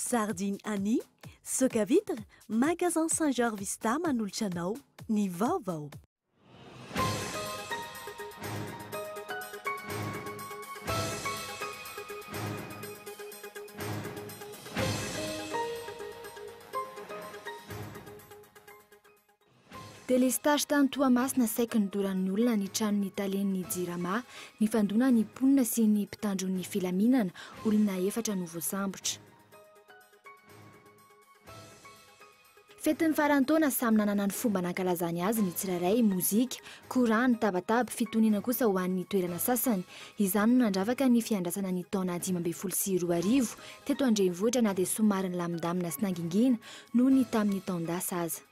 Sardine Annie, Soca Vitre, Magasin Saint Georges Vista manolotra anao ny vaovao. Delestazy tany Toamasina saiky nodoran'ny olona ny tranon'ny talen'ny Jirama. Nifandona ny mponina sy ny mpitandro ny filaminana, olona efatra no voasambotra. Fetin'ny faran'ny taona, samy nanana ny fomba nankalazany azy ny tsirairay, mozika, korany, tabataba, fitoniana kosa ho an'ny toerana sasany. Izany no nandravaka ny fiandrasana ny taona dimy ambin'ny folo sy roa arivo teto an-drenivohitra na dia somary nilamindamina sy nangingina noho ny tamin'ny taon-dasa aza.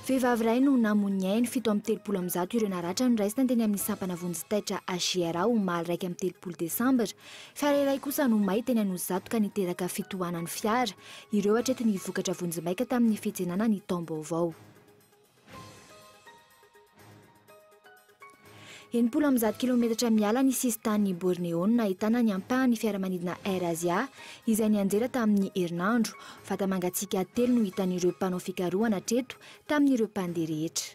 Vehivavy iray no namoy ny ainy, fito amby telopolo amby zato ireo naratra noraisina teny amin'ny sampana vonjy taitra HGRA omaly iraika amby telopolo desambra. Fiara iray kosa no may teny Anosizato ka niteraka fitohanan'ny fiara. Ireo hatreto ny vokatra vonjimaika tamin'ny fitsenana ny taom-baovao. Enimpolo amby zato kilaometatra miala ny sisin-tanin'i Borneo no nahitana ny ampahan'ny fiaramanidina AirAsia izay nianjera tamin'ny herinandro. Vata-mangatsiaka telo no hitan'ireo mpanao fikarohana hatreto tamin'ireo mpandeha rehetra.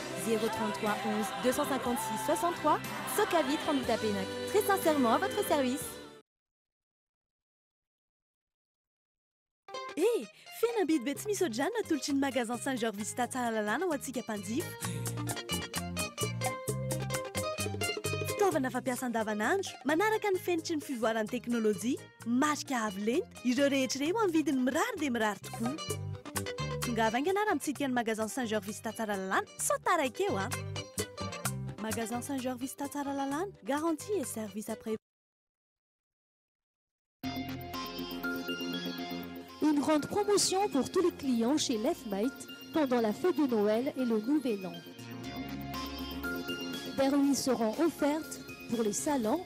zéro trente trois onze deux cent cinquante six soixante trois soka vitre en boutapenac très sincèrement à votre service E! Fihenam-bidy be tsy misy ohatr'izany no atolotry ny Magasin Saint Georges Vista Tsaralalàna ho antsika mpanjifa. Fitaovana fampiasa andavanandro, manaraka ny fenitry ny fivoaran'ny teknolojia. Marika avo lenta, ireo rehetra ireo amin'ny vidiny mirary dia mirary tokoa. Tongava haingana ary mitsidika ny Magasin Saint Georges Vista Tsaralalàna sao taraiky eo an! Magasin Saint Georges Vista Tsaralalàna, garantie et service après Une grande promotion pour tous les clients chez Lefmate pendant la fête de Noël et le Nouvel An. Des remises seront offertes pour les salons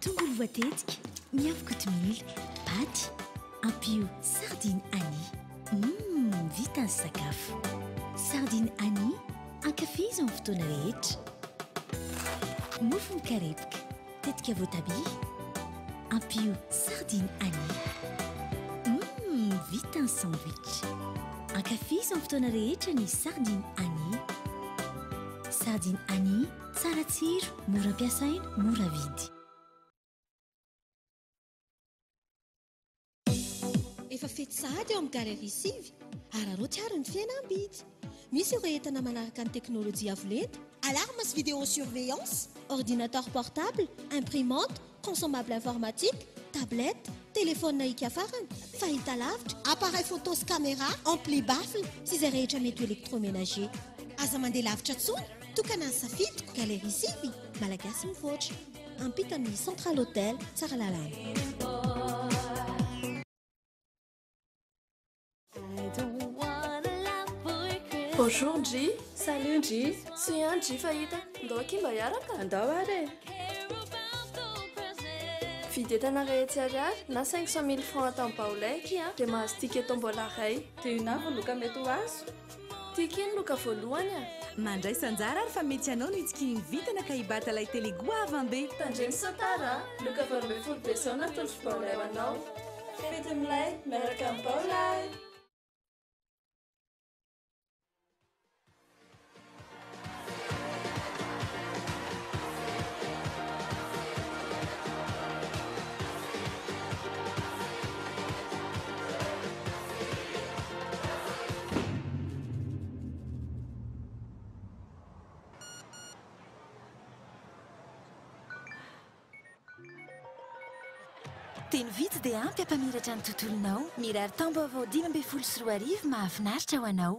Tongolo voatetika, miavo kotomila, paty, ampio sardine Annie. Mmm, vita ny sakafo. Sardine Annie, ankafizo amin'ny fotoana rehetra. Mofo mikarepoka, tetika voatabia. Ampio sardine anis. Mmm vita ny sandwich. Ankafizo amin'ny fotoana rehetra ny sardine anis. Sardine anis, tsara tsiro, mora ampiasaina, mora vidy. Efa fety sahady eo amin'ny Galerie sivy. Araraoty àry ny fiaina am-bidy! Misy ireo entana manaraka ny teknolojia avo lenta, alarme sy vidéo surveillance, ordinateur portable, imprimante, consommable informatique, tablette, telefaonina hiaka farany, fahitalavitra, appareil photo sy camera, ampli baffle sy izay rehetra mety ho electroménager. Aza mandeha lavitra intsony, tokana ny safidiko, Galerie sivy, Malagasy mivoatra. Ampita amin'ny Central Hotel Bonjour Ndry, salut Ndry, tsy ihany Ndry fahita, ndao akia mba hiaraka? Andao ary e! Vidy entana rehetra ariary na 500 mille francs atao am-baolay akia dia mahazo ticket tombola iray. Dia inona avy no loka mety ho azo? Tiako iny loka voalohany a! Mandraisa anjara ary fa mety anao no hitsikinin'ny vintana ka hibata lay tele goavan be. Tandremo sao tara a! Loka valo ambin'ny folo desambra ny tondro baolay ho anao. Fety milay miaraka amin'ny baolay! Teny vitsy dia ampy hampamiratra ny tontolonao. Mirary taom-baovao dimy ambin'ny folo sy roa arivo mahafinaritra ho anao.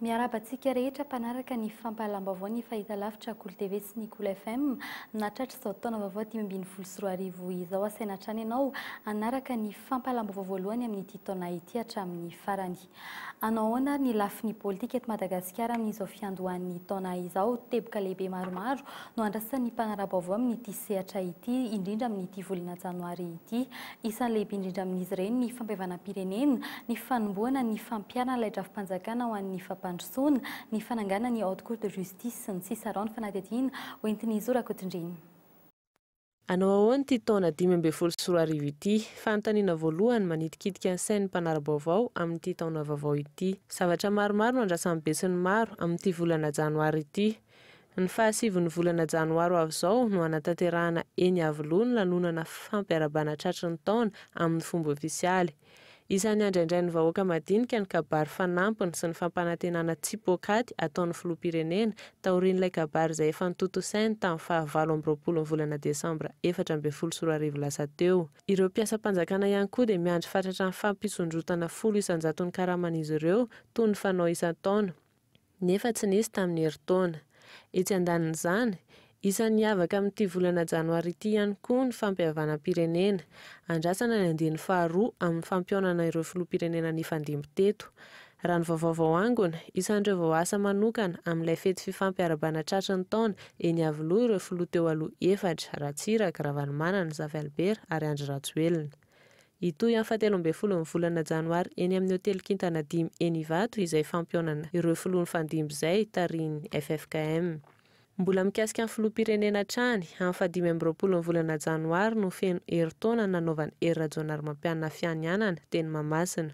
Miarahaba antsika rehetra mpanaraka ny fampahalam-baovao ny fahitalavitra Cool TV sy ny Cool FM. Nahatratra izao taona vaovao dimy ambin'ny folo sy roa arivo izao asaina hatrany ianao hanaraka ny fampahalam-baovao voalohany amin'ity taona ity hatramin'ny farany. Hanao ahoana ary ny lafiny politika eto Madagasikara amin'izao fiandohan'ny taona izao? Teboka lehibe maromaro no andrasan'ny mpanara-baovao amin'ity sehatra ity indrindra amin'ity volana janoary ity Isan'ny lehibe indrindra amin'izy ireny ny fampihavanam-pirenena, ny fanombohana ny fampiharana ilay drafi-panjakana ho an'ny fampandrosoana, ny fananganana ny Haute Cour de Justice, sy ny sisa Araho ny fanadihadiana ho entin'i Zo Rakotondreny. Hanao ahoana ity taona dimy ambin'ny folo sy roa arivo ity? Fanontaniana voalohany manitikitika ny sain'ny mpanara-baovao amin'ity taona vaovao ity. Zavatra maromaro no andrasan'ny besinimaro amin'ity volana janoary ity. Ny fahasivon'ny volana janoary ho avy izao no hanatanterahana eny Iavoloha ny lanonana fampiarabana tratry ny taona amin'ny fomba ofisialy. Isan'ny handraindrain'ny vahoaka madinika ny kabary fanampiny sy ny fampanantenana tsy poakaty ataon'ny Filoham-pirenena taorian'ilay kabary izay efa notontosainy tamin'ny faha valo amby roapolo ny volana desambra efatra ambin'ny folo sy roa arivo lasa teo. Ireo mpiasam-panjakana ihany koa dia miandry fatratra ny fampisondrotana folo isan-jaton'ny karaman'izy ireo toy ny fanao isan-taona. nefa tsy nisy tamin'ny herintaona. Etsy andanin'izany, isan'ny hiavaka amin'ity volana janoary ity ihany koa ny fampihavanam-pirenena. Andrasana ny andiany faharoa amin'ny fampihaonana ireo filoham-pirenena nifandimby teto. Raha ny vaovao vao angona, isan'ireo vao asa manokana amin'ilay fety fifampy ara-bana tratry ny taona eny Iavoloha ireo filoha teo aloha efatra, Ratsiraka, Ravalomanana, Zafy Albert ary Andry Rajoelina. Hitohy amin'ny fahatelo ambin'ny folon'ny volana janoary eny amin'ny hotely kintana dimy eny Ivato izay fampihaonana ireo filoha nifandimby izay tarihin'ny ffkm. Mbola mikasika ny filoham-pirenena hatrany, amin'ny fahadimy amby roapolon'ny volana janoary no feno herintaona nanaovan'i Hery Rajaonarimampianina fianianana teny Mahamasina.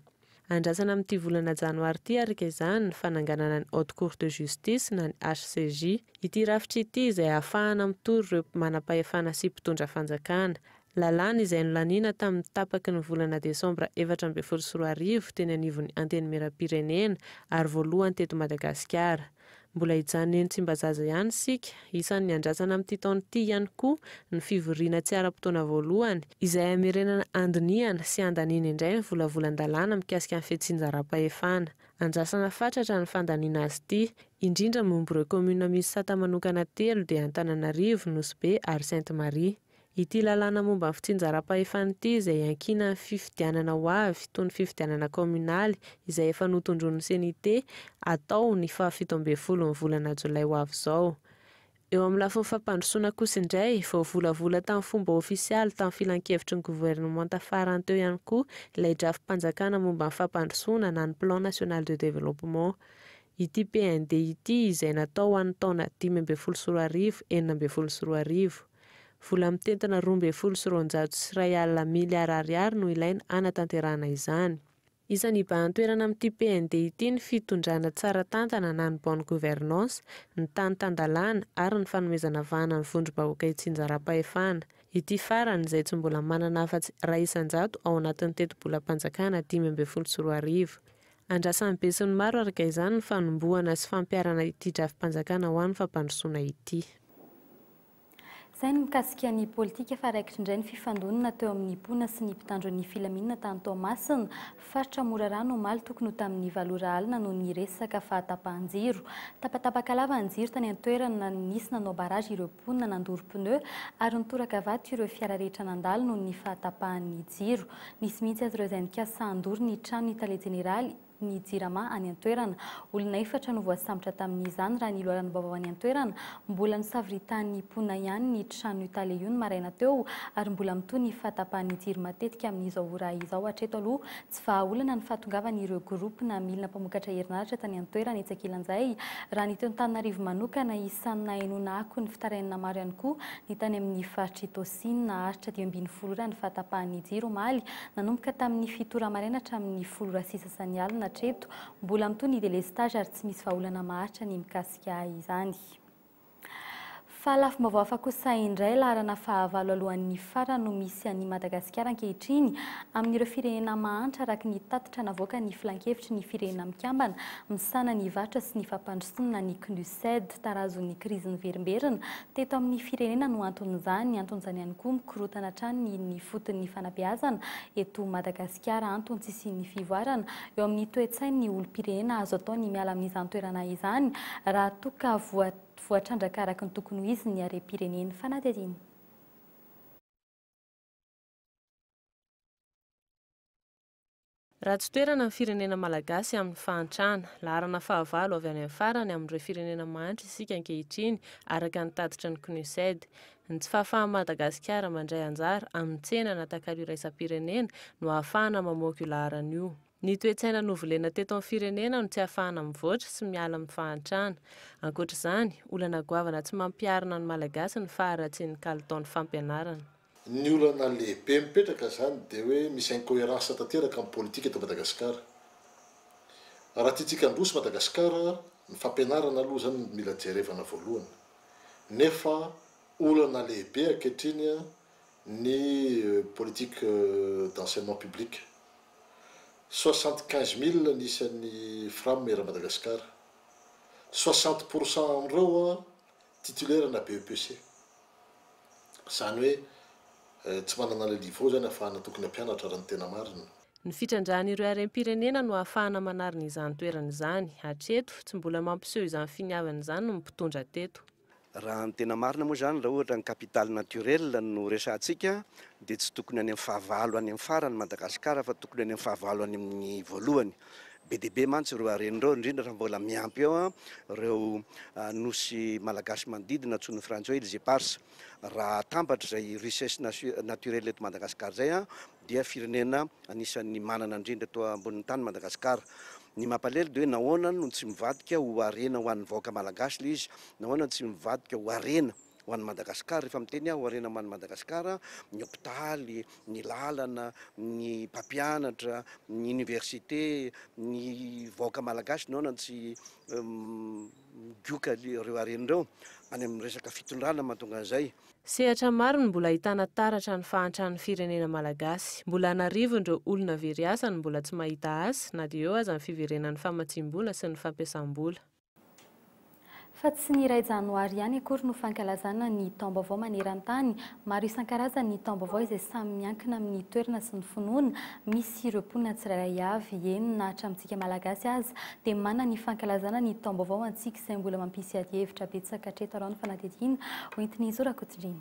Andrasana amin'ity volana janoary ity ary kezahina ny fananganana ny Haute Cour de Justice na ny HCJ. Ity rafitra ity izay ahafahana mitory ireo manampahefana sy mpitondra fanjakana. Lalàna izay nolaniana tamin'ny tapaky ny volana desambra efatra ambin'ny folo sy roa arivo teny anivon'ny Antenimierampirenena ary voalohany teto Madagasikara. Mbola hijanony Tsimbazaza ihany isika. Isan'ny andrasana amin'ity taona ity ihany koa ny fivoriana tsy ara-potoana voalohany, izay hamerenana handinihana sy handaniana indray ny volavolan-dalàna mikasika ny fitsinjaram-pahefana. Andrasana fatratra ny fandaniana azy ity, indrindra momba ireo kaominina misy sata manokana telo dia Antananarivo, Nosy Be ary Sainte Marie. Ity lalàna momba ny fitsinjaram-pahefana ity izay iankinan'ny fifidianana ho avy, toy ny fifidianana kaominaly, izay efa notondroin'ny CNIT, hatao ny faha fito ambin'ny folo ny volana jolay ho avy izao. Eo amin'ny lafiny fampandrosoana kosa indray, voavolavola tamin'ny fomba ofisialy tamin'ny filankevitry ny governemanta farany teo ihany koa ilay drafi-panjakana momba ny fampandrosoana na ny Plan national de développement, ity PND ity izay natao ho an'ny taona dimy ambin'ny folo sy roa arivo, enina ambin'ny folo sy roa arivo. Vola mitentina roa ambin'ny folo sy roanjato sy iray alina miliara ariary no ilaina hanatanterahana izany. Isan'ny hibahan-toerana amin'ity PND ity ny fitondrana tsara tantana na ny bonne gouvernance, ny tany tan-dalàna ary ny fanomezana vahana ny vondrom-bahoaka itsinjaram-pahefana. Ity farany, izay tsy mbola manana afa-tsy iray isan-jato ao anatin'ny tetibolam-panjakana dimy ambin'ny folo sy roa arivo. Andrasan'ny besinimaro araka izany ny fanombohana sy fampiharana ity drafi-panjakana ho an'ny fampandrosoana ity. Izay ny mikasika ny politika fa raikitra indray ny fifandonana teo amin'ny mpoana sy ny mpitandro ny filaminana tany Toamasina, faritra Morarano omaly tokony ho tamin'ny valo ora alina noho ny resaka fahatapahan-jiro. Tapatapaka lava ny jiro tany an-toerana, nisy nanao barrage ireo mponina nandoro pneu ary nitoraka vato ireo fiara rehetra nandalo noho ny fahatapahan'ny jiro. Nisy mihitsy aza ireo izay nikasa handoro ny tranon'ny tale jeneraly. ny Jirama any an-toerana. Olona efatra no voasambotra tamin'izany, raha ny loharanom-baovao any an-toerana. Mbola nosaviritan'ny mponina ihany ny tranon'io tale io ny maraina teo ary mbola mitohy ny fahatapahan'ny jiro matetika amin'izao ora izao. Hatreto aloha, tsy vahaolana ny fahatongavan'ireo groupe na milina mpamokatra herinaratra tany an-toerana etsy ankilan'izay, raha ny eto Antananarivo manokana. Isan'ny nahenoana akony fitarainana maro ihany koa ny tany amin'ny faritr'i Tosy. Sasany naharitra dimy ambin'ny folo ora ny fahatapahan'ny jiro omaly, nanomboka tamin'ny fito ora maraina hatramin'ny folo ora sy sasany alina hatreto. Mbola mitohy ny delestazy ary tsy misy vahaolana maharitra ny mikasika izany. Fa lafim-baovao hafa kosa indray, laharana fahavalo alohan'ny fara no misy an'i Madagasikara ankehitriny amin'ireo firenena mahantra araka ny tatitra navoakan'ny Filankevitry ny Firenena Mikambana misahana ny Varotra sy ny Fampandrosoana ny Cnuced. Tarazon'ny krizy niverimberina Teto amin'ny firenena no anton'izany, anton'izany ihany koa mikorontana hatrany ny foton'ny fanabeazana eto Madagasikara, anton-tsisian'ny fivoarana eo amin'ny toe-tsain'ny olom-pirenena, azo atao ny miala amin'izany toerana izany raha toa ka voatrandraka araka ny tokony ho izy ny harem-pireneny. Fanadihadiana. Ratsy toerana ny firenena malagasy amin'ny fahantrana. Laharana fahavalo avy any amin'ny farany amin'ireo firenena mahantra isika ankehitriny, araka ny tatitry ny Cnuced. Ny tsy fahafahan'i Madagasikara mandray anjara amin'ny tsena na takalo iraisam-pirenena no ahafahana mamoaka io laharana io. Ny toe-tsaina novolena teto amin'ny firenena no tsy ahafahana mivoatra sy miala amin'ny fahantrana. Ankoatra izany, olana goavana tsy mampiharina ny Malagasy ny faharatsian'ny kalitaon'ny fampianarana. Ny olana lehibe mipetraka izany dia hoe misy incoherence tanteraka amin'ny politika eto Madagasikara. Raha tiantsika handroso Madagasikara, ny fampianarana aloha izany no mila jerevana voalohany. Nefa olana lehibe ankehitriny ny politique d'enseignement public. Soixante quinze mille ny isan'ny Fram eran'i Madagasikara. Soixante pour cent amin'ireo Titulaire ana BEPC. Zany hoe tsy manana ilay niveau zany afahana tokony hampianatra raha ny tena marina. Ny fitrandrahan'ireo harem-pirenena no ahafahana manarina izany toerana izany. Hatreto, tsy mbola mampiseho izany finiavana izany ny mpitondra teto. Raha ny tena marina moa izany, raha ohatra ny capital naturel no resahantsika, dia tsy tokony any amin'ny fahavalo any amin'ny farany Madagasikara fa tokony any amin'ny fahavalo any amin'ny voalohany. Be dia be mantsy ireo harena ireo, indrindra raha mbola miampy eo ireo nosy malagasy manodidina antsoin'ny frantsay hoe îles éparses. Raha atambatra izay richesse naturelle eto Madagasikara izay dia firenena anisan'ny manana indrindra eto ambonin'ny tany Madagasikara. Ny mampalahelo dia hoe nahoana no tsy mivadika ho harena ho an'ny vahoaka malagasy ilay izy? Nahoana no tsy mivadika ho harena ho an'i Madagasikara, rehefa miteny aho harena hoan'i Madagasikara, ny hopitaly, ny lalana, ny mpampianatra, ny université, ny vahoaka malagasy naona no tsy migoka ireo harena ireo any amin'ny resaka fitondrana mahatonga an'izay. Sehatra maro no mbola ahitana taratra ny fahantran'ny firenena malagasy. Mbola an'arivon'ireo olona very asa no mbola tsy mahita asa, na dia eo aza ny fiverenan'ny famatsiam-bola sy ny fampiasam-bola. Fa tsy ny iray janoary ihany akory no fankalazana ny taom-baovao maneran-tany. Maro isan-karazany ny taom-baovao izay samy miankina amin'ny toerana sy ny finoana misy ireo mponina tsirairay avy. Eny na hatramintsika Malagasy aza dia manana ny fankalazana ny taom-baovao antsika izay mbola mampisy adihevitra betsaka hatreto arao ny fanadihadiana hoentin'i Zo Rakotondraina.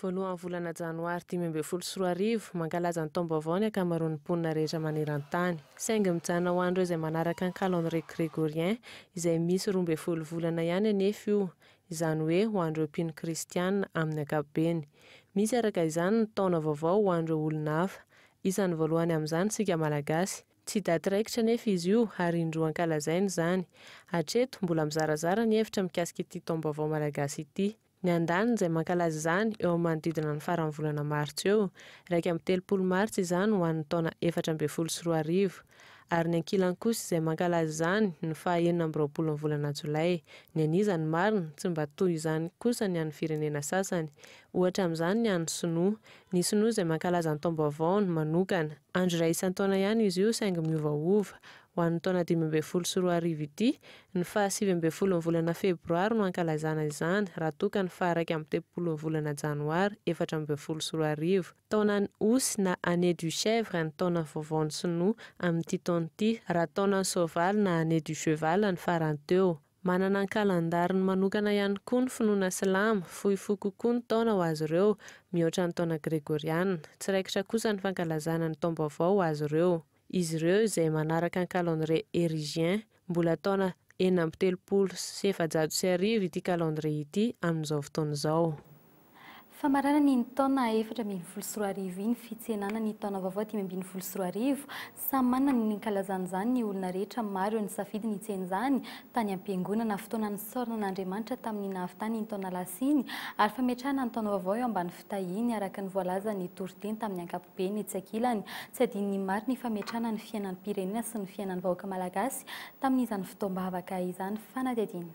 Voalohan'ny volana janoary dimy ambin'ny folo sy roa arivo, mankalaza ny taom-baovao ny ankamaroan'ny mponina rehetra maneran-tany. Saingy mijanona ho an'ireo izay manaraka ny calendrier grégorien, izay misy roa ambin'ny folo volana ihany anefa io, izany hoe ho an'ireo mpino kristiana amin'ny ankapobeny. Misy araka izany ny taona vaovao ho an'ireo olona hafa, Isan'ny voalohany amin'izany isika Malagasy. Tsy daty raikitra anefa izy io ary indroa ankalazaina izany. Hatreto, mbola mizarazara ny hevitra mikasika ity taom-baovao malagasy ity. Ny andaniny izay mankalaza izany eo amin'ny manodidina ny faran'ny volana martsa eo, iraika amby telopolo martsa izany ho an'ny taona efatra ambin'ny folo sy roa arivo. Ary ny ankilany kosa izay mankalaza izany ny faha enina amby roapolon'ny volana jolay. Ny an'iza no marina? Tsy mba toy izany kosa ny an'ny firenena sasany. Ohatra amin'izany ny an'ny sinoa. Ny Sinoa izay mankalaza ny Taom-baovaony manokana. Andro iray isan-taona ihany izy io saingy miovaova. Ho an'ny taona dimy ambin'ny folo sy roa arivo ity, ny faha sivy ambin'ny folon'ny volana Febroary no ankalazana izany raha toa ka ny faha iraika amby telopolon'ny volana Janoary efatra ambin'ny folo sy roa arivo, taonan'ny Osy na Année du Chèvre ny taona vaovaon'ny Sinoa amin'ity taona ity, raha taonan'ny Soavaly na Année du Cheval ny farany teo. Manana ny kalendariny manokana ihany koa ny finoana silamo, fohy fo kokoa ny taona ho azy ireo mihoatra ny taona gregoriana. Tsy raikitra kosa ny fankalazana ny taom-baovao ho azy ireo. Izy ireo, izay manaraka ny calendrier herigien, mbola taona enina amby telopolo sy efajato sy arivo ity calendrier ity amin'izao fotoana izao. Famaranana iny taona efatra ambin'ny folo sy roa arivo iny fitsenana ny taona vaovao dimy ambin'ny folo sy roa arivo. Samy manana ny nikalazany izany ny olona rehetra, maro ireo nisafidy ny hitsena izany tany am-piangonana. Fotoana nisaorana an'Andriamanitra tamin'ny nahavitany iny taona lasa iny ary fametrahana ny taona vaovao eo ambany fitahiany araka ny voalazan'ny toriteny tamin'ny ankapobeny. Etsy ankilany, tsy adinon'ny maro ny fametrahana ny fiainan'ny pirenena sy ny fiainan'ny vahoaka malagasy tamin'izany fotoam-bavaka izany. Fanadihadiana.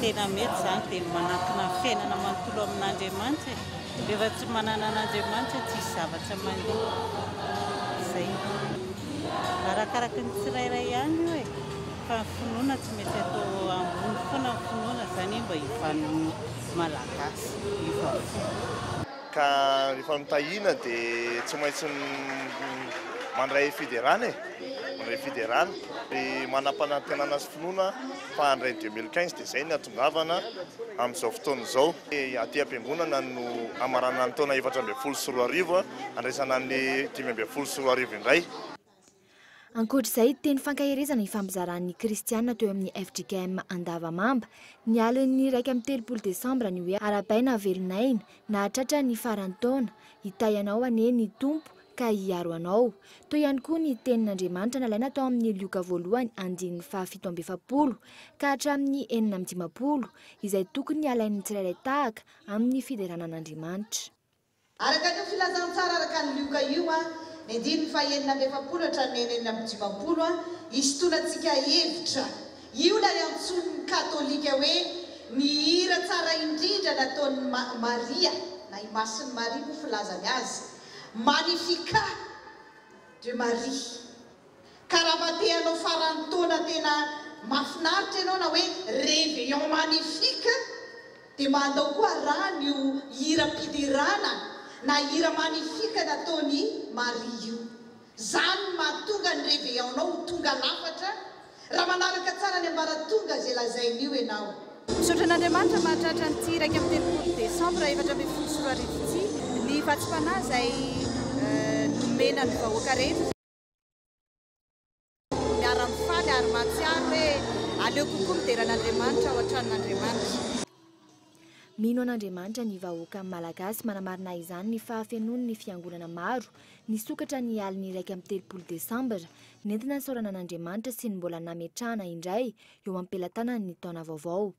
Tena mety izany dia manankina ny fiainana manontolo amin'Andriamanitra e! Rehefa tsy manana an'Andriamanitra tsisy zavatra mandeha. Izay. Arakaraky ny tsirairay ihany io e! Fa ny finoana tsy maintsy atao ambony foana ny finoana izany mba hivanin'ny Malagasy io vaovao. Ka rehefa mitahina dia tsy maintsy mandray fiderana e! Mandray fiderana. Dia manam-panantenana sy finoana. Fa handray deux mille quinze dia izay ny hahatongavana amin'izao fotoana izao. Aty am-piangonana no hamaranana ny taona efatra ambin'ny folo sy roa arivo, handraisana an'ilay dimy ambin'ny folo sy roa arivo indray. Ankoatra izay, teny fankaherezana ifampizaran'ny kristiana teo amin'ny fjkm Andavamamba, ny alin'ny iraika amby telopolo desambra ny hoe Arahabaina velon'aina, nahatratra ny faran'ny taona, hitahy anao anie ny Tompo, ka hiaro anao. Toy ihany koa ny tenin'Andriamanitra nalaina tao amin'ny Lioka voalohany andininy fahafito amby efapolo ka hatramin'ny enina amby dimampolo, izay tokony halain'ny tsirairay tahaka amin'ny fiderana an'Andriamanitra. Araka an'io filazantsara araka an'i Lioka io, ny andininy fahenina amby efapolo hatramin'ny enenina amby dimampolo, hisintonantsika hevitra. Io ilay antsoin'ny Katolika hoe ny hira tsara indrindra nataon'i Maria, na i Masin'i Maria moa filazany azy. Magnificat de Maria. Karabatehanao faran'ny taona tena mafinaritra ianao na hoe reveillon magnifique dia mba andao koa rano io hiram-piderana na hira magnifique nataon'i Maria io. Izany no mahatonga ny reveillon-nao ho tonga lafatra raha manaraka tsara ny ambaratonga izay lazain'io ianao. Misaotra an'Andriamanitra mahatratra an'ity iraika amby telopolo desambra efatra ambin'ny folo sy roa arivo ity ny vatsim-panahy izay nomena ny vahoaka rehetra. Miara-mifaly ary mahatsiaro hoe aleo kokoa midera an'Andriamanitra ao an-tranon'Andriamanitra. Mino an'Andriamanitra ny vahoaka Malagasy, manamarina izany ny fahafenoan'ny fiangonana maro nisokatra ny alin'ny iraika amby telopolo desambra, nentina nisaorana an'Andriamanitra sy ny mbola nametrahana indray eo am-pelatanany ny taona vaovao.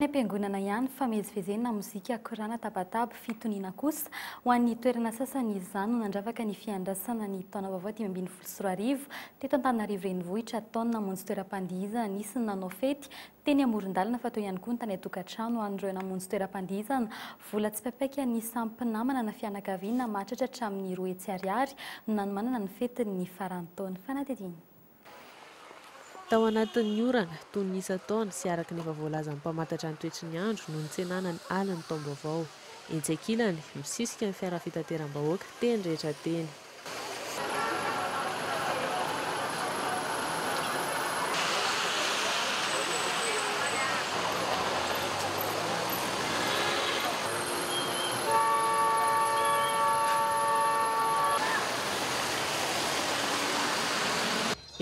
Any am-piangonana ihany, famezivezena, mozika, korana, tabataba, fitoniana kosa. Ho an'ny toerana sasany izany no nandravaka ny fiandrasana ny taona vaovao dimy ambin'ny folo sy roa arivo teto Antananarivo Renivohitra. Tao ny namonjy toeram-pandihizana, nisy ny nanao fety teny amoron-dalana fa teo ihany koa ny tany an-tokantrano. Ho an'ireo namonjy toeram-pandihizana, vola tsipaipaika ny samy mpinamana na fianakaviana mahatratra hatramin'ny roa hetsy ariary no nanomanana ny fetin'ny faran'ny taona. Fanadihadiana. Tao anatin'ny orana, toy ny isan-taona sy araka ny efa voalazan'ny mpamantatra ny toetry ny andro no nitsenana ny alin'ny taom-baovao. Etsy ankilany, misisika ny fiara fitateram-bahoaka teny rehetra teny.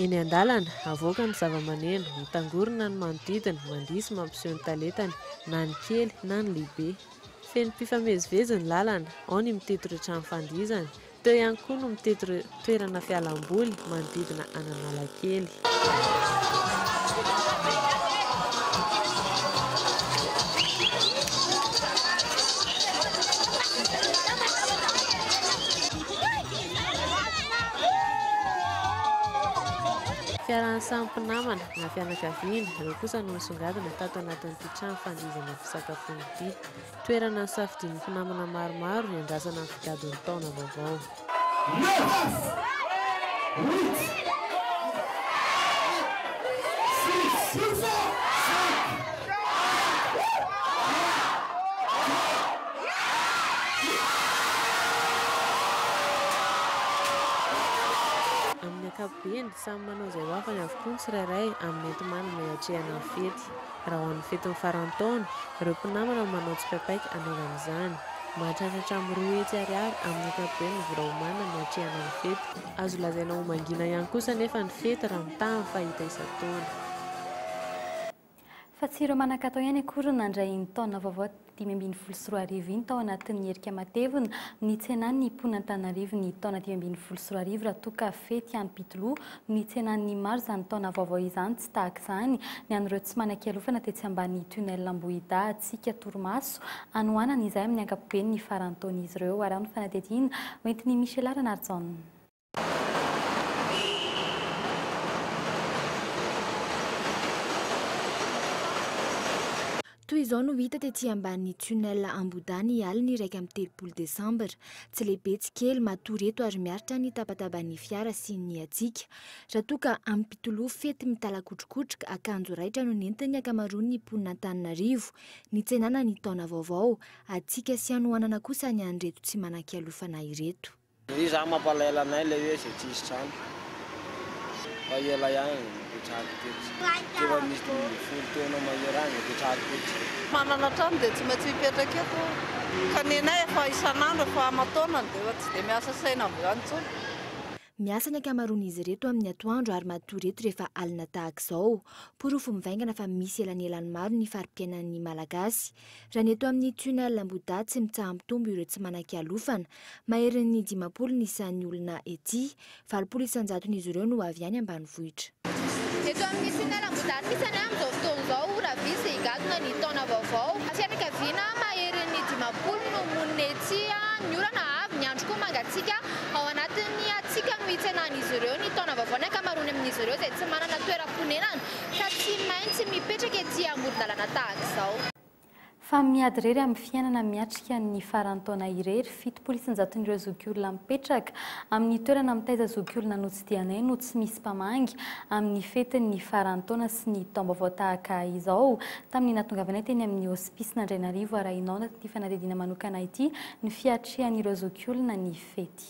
Eny an-dalana, avoaka ny zava-maneno, mitangorona ny manodidina, mandihy sy mampiseho ny talentany, na ny kely na ny lehibe. Feno mpifamezivezy ny lalana, ao ny mitety ireo trano fandihizana, teo ihany koa no mitety ireo toerana fialam-boly manodidina an'Analakely. Fiarahan'ny samy mpinamana na fianakaviana ireo kosa no nisongadina tato anatin'ity trano fandihizana fisakafoana ity. Toerana nisafidian'ny mpinamana maromaro hiandrasana ny figadon'ny taona vaovao. Amin'ny ankapobeny, samy manao izay ho afany avokoa ny tsirairay amin'ny enti-manana hiatrehana ny fety. Raha ho an'ny fetin'ny faran'ny taona, ireo mpinamana no manao tsipaipaika hanaovana izany. Mahatratra hatramin'ny roa hetsy ariary amin'ny ankapobeny ny vola omanina no atrehana ny fety. Azo lazaina ho mangina ihany kosa anefa ny fety raha mitaha ny fahita isan-taona. Fa tsy ireo manan-katao ihany akory no nandray iny taona vaovao. dimy ambin'ny folo sy roa arivo iny tao anatin'ny herika matevina ny tsenan'ny mpon'Antananarivo ny taona dimy ambin'ny folo sy roa arivo raha toa ka fety hampitoloha ny tsenan'ny maro izany taona vaovao izany tsy tahaka izany ny an'ireo tsy manan-kialofana tetsy ambany tunnel Ambohidahy tsika torimaso hanohanana izay amin'ny ankapobeny ny faran'ny taon'izy ireo ary amin'ny fanadihadiana hoentin'i Michela Ranarijaona. Toy izao no hita tety ambany tunnel Ambohidahy ny alin'ny iraika amby telopolo desambra. Tsy lehibe tsy kely, matory eto ary miaritra ny tabataban'ny fiara sy ny hatsiaka. Raha toa ka amim-pitoloha fety mitalakotrokotroka, akanjo raitra no nentin'ny ankamaroan'ny mponin'Antananarivo nitsenana ny taona vaovao. Hatsiaka sy hanohanana kosa ny an'ireto tsy manan-kialofana ireto. Ndry izaho mampalahelo anay ilay hoe izay tsisy trano fa ela ihany vao mipetrahako teto. Efa misy dimy ambin'ny folo taona mahery any vao hipetrahako teto. Manana trano dia tsy maintsy mipetraka eto ka ny anay efa isan'andro efa aman-taonany dia efa tsy dia miasa saina amin'izany intsony. Miasa ny ankamaroan'izy ireto amin'ny atoandro ary matory eto rehefa alina tahaka izao. Porofo mivaingana fa misy elanelany maro ny fari-piainan'ny Malagasy. Raha ny eto amin'ny tunnel Ambohidahy tsy mitsaha-mitombo ireo tsy manan-kialofana Maherin'ny dimampolo ny isan'ny olona ety. Valopolo isan-jaton'izy ireo no avy any ambanivohitra. Eto amin'ny Finiala Ambohidarintsana amin'izao fotoana izao, raha vitsy dia higadona ny taona vaovao. Fianakaviana maherin'ny dimampolo no monina etsy. Ny orana avy, ny andro koa mangatsiaka. Ao anatin'ny hatsiaka no hitsenan'izy ireo ny taona vaovao ny ankamaroany amin'izy ireo izay tsy manana toeram-ponenana ka tsy maintsy mipetraka ety amoron-dalana tahaka izao. Fa miady irery amin'ny fiainana miatrika ny faran'ny taona irery. Fitopolo isan-jaton'ireo zokiolona mipetraka amin'ny toerana mitaiza zokiolona notsidihanay no tsy misy mpamangy amin'ny fetin'ny faran'ny taona sy ny taom-baovao tahaka izao. Tamin'ny nahatongavanay teny amin'ny hosipisin'Andrainarivo, arahina ao anatin'ity fanadihadiana manokana ity ny fiatrihan'ireo zokiolona ny fety.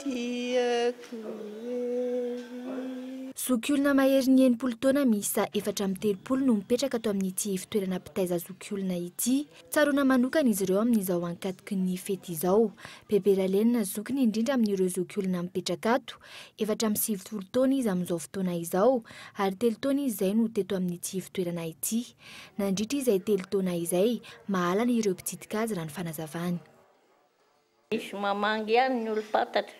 Tiako ery. Zokiolona maherin'ny enimpolo taona miisa efatra amby telopolo no mipetraka ato amin'ity ivotoerana mpitaiza zokiolona ity. Tsaroana manokana izy ireo amin'izao ankatoky ny fety izao. Bebe Ralenina zoky ny indrindra amin'ireo zokiolona mipetraka ato. Efatra amby sivifolo taona izy amin'izao fotoana izao ary telo taona izy izay no teto amin'ity ivotoerana ity. Nandritra izay telo taona izay, mahalana ireo mpitsidika azy raha ny fanazavany. Nisy mamangy ihany ny olom-pantatra.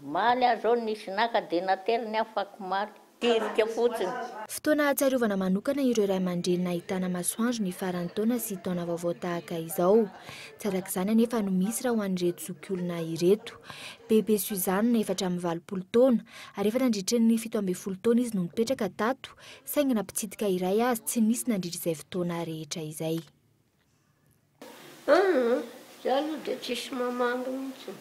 Omaly aho izao nisy naka dia nateriny aho fakomaly. Tirika fotsiny. Fotoana hahatsiarovana manokana ireo ray aman-dreny nahitana masoandro ny faran'ny taona sy taona vaovao tahaka izao. Tsy arak'izany anefa no misy raha ho an'ireto zokiolona ireto. Bebe Suzanne, efatra amby valopolo taona, ary efa nandritry ny fito ambin'ny folo taona izy no nipetraka tato, saingy na mpitsidika iray aza tsy nisy nandritra izay fotoana rehetra izay. Aa! za aloha dia tsisy mamangy mihitsy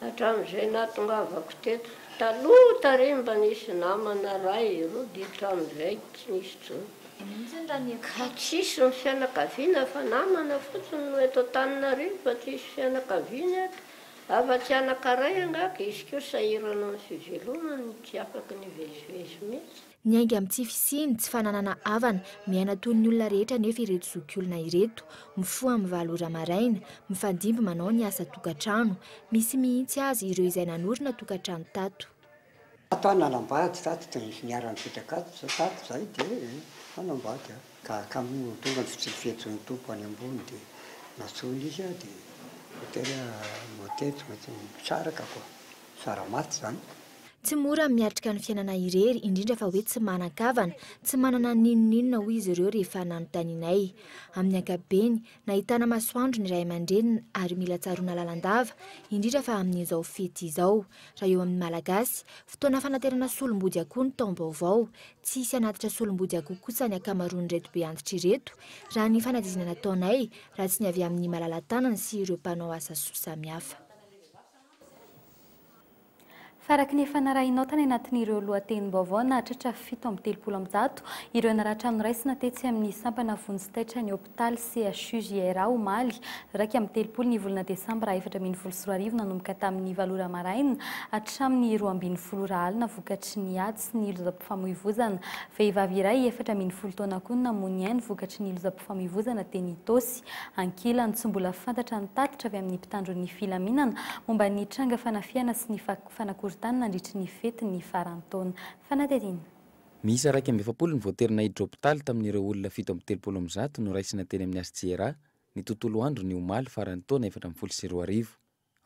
hatramin'izay nahatongavako teto, taloha tary mba nisy namana ray roa dia hatramin'izay tsy nisy intsony, ka tsisy ny fianakaviana fa namana fotsiny no eto Antananarivo fa tsisy fianakaviana eto, afa-tsy anankaray angaha ka izy koa sahirana amin'ny fivelomany tsy afaka nivezivezy mihitsy. Miainga amin'ny tsy fisiany, tsy fananana havana, miaina toy ny olona rehetra anefa ireto zokiolona ireto, mifoha amin'ny valo ora maraina, mifandimby manao ny asa tokantrano. Misy mihitsy aza ireo izay nanorina tokantrano tato. Tato aho nanambady tato, tena nisy niharan'ny fetraka ato izao tato izay dia nanambady aho. Ka ka moa tonga ny fitsiky fihetsin'ny Tompo any ambony dia nantsoiny izy aho dia voatery aho no teto mety misaraka koa, sara maty izany. Tsy mora ny miatrika ny fiainana irery, indrindra fa hoe tsy manan-kavana, tsy manana n'inon'inona, hoy izy ireo rehefa nanontanianay. Amin'ny ankapobeny, nahitana masoandro ny ray aman-dreniny ary mila tsaroana lalandava, indrindra fa amin'izao fety izao. Raha eo amin'ny Malagasy, fotoana fanaterana solombody akoho ny taom-baovao. Tsy hisy hanatitra solombody akoho kosa ny ankamaroan'ireto be antitra ireto, raha ny fanadihadiana nataonay, raha tsy ny avy amin'ny malala-tanana sy ireo mpanao asa soa samihafa. Faraky ny efa narahinao tany anatin'ireo lohatenim-baovao nahatratra fito amby telopolo amby zato ireo naratra noraisina tetsy amin'ny sampana vonjy taitra ny hopitaly CHU JRA omaly iraika amby telopolo ny volana desambra efatra ambin'ny folo sy roa arivo nanomboka tamin'ny valo ora maraina hatramin'ny roa ambin'ny folo ora alina vokatry ny ady sy ny lozam-pifamoivozana. Vehivavy iray efatra ambin'ny folo taona koa namoy ny ainy vokatry ny lozam-pifamoivozana teny Itaosy. Ankilany, tsy mbola fantatra ny tatitra avy amin'ny mpitandro ny filaminana momba ny tranga fanafihana sy ny fanakorontanina nandritry ny fetin'ny faran'ny taona. Fanadihadiana. Miisa iraika amby efapolo ny voaterina hidropitaly tamin'ireo olona fito amby telopolo amin'ny zato noraisina teny amin'ny HCRA ny tontolo androny omaly faran'ny taona efatra ambin'ny folo sy roa arivo.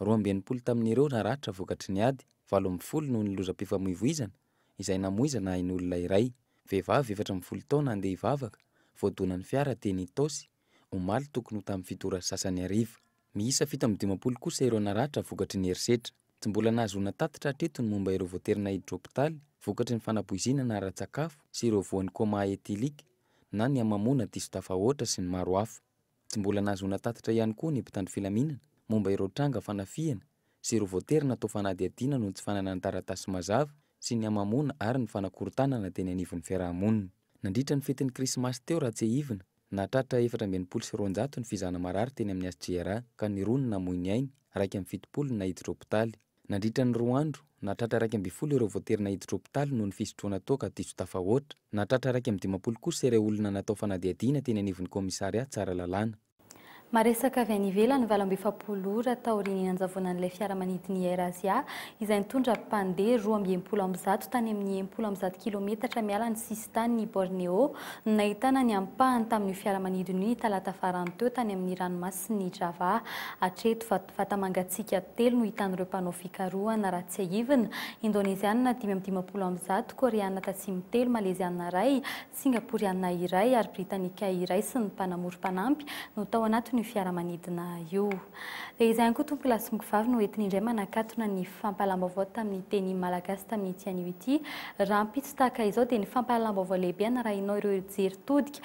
Roa amby enimpolo tamin'ireo naratra vokatry ny ady, valo ambin'ny folo noho ny lozam-pifamoivoizana izay namoizana ain'olona iray, vehivavy efatra ambin'ny folo taona handeha hivavaka, voadonan'ny fiara teny Itaosy, omaly tokony ho tamin'ny fito ora sy sasany hariva. Miisa fito amby dimampolo kosa ireo naratra vokatry ny herisetra. Tsy mbola nahazoana tatitra hatreto ny momba ireo voaterina hiditra hopitaly vokatry ny fanapoizinana ara-tsakafo sy ireo voan'ny coma éthylique na ny hamamoana diso tafahoatra sy ny maro hafa. Tsy mbola nahazoana tatitra ihany koa ny mpitandro filaminana momba ireo tranga fanafihana sy ireo voatery natao fanadihadiana noho ny tsy fananany taratasy mazava sy ny hamamoana ary ny fanakorontanana teny anivon'ny fiaraha-monina. Nandritra ny fetin'ny Krismasy teo raha tsiahivina, nahatratra efatra amby enimpolo sy roanjato ny fizahana marary teny amin'ny HCR ka ny roa no namoy ny ainy, iraika amby fitopolo no nahiditra hopitaly. Nandritra ny roa andro, nahatratra iraika ambin'ny folo ireo voatery naiditra hopitaly noho ny fisotroana toaka diso tafahoatra. Nahatratra iraika amby dimampolo kosa ireo olona natao fanadihadiana teny anivon'ny kaomisarià Tsaralalàna. Maresaka avy any ivelany valo amby efapolo ora taorian'ny nanjavonan'ilay fiaramanidin'ny AirAsia izay nitondra mpandeha roa amby enimpolo amby zato tany amin'ny enimpolo amby zato kilometatra miala ny sisintanin'i Borneo no nahitana ny ampahany tamin'io fiaramanidina io ny talata farany teo tany amin'ny ranomasin'i Java hatreto vata-mangatsiaka telo no hitan'ireo mpanao fikarohana raha tsiahivina, Indoneziana dimy amby dimampolo amin'ny zato, Koreana Tatsimo telo, Maleziana iray, Singaporiana iray ary Britanika iray sy ny mpanamory mpanampy no tao anatin'io fiaramanidina io. Dia izay ihany koa Tompokolahy sy Mokovavy no entiny indray manakatona ny fampahalalam-baovao tamin'ny teny malagasy tamin'ity anio ity. Rahampitso tahaka izao dia ny fampahalalam-baovao lehibe anarahinao ireo hijery todika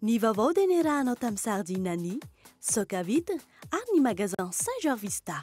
Ny vaovao dia niarahanao tamin'ny Sardine an'i, Soca Vitre ary ny Magasin Saint Georvista.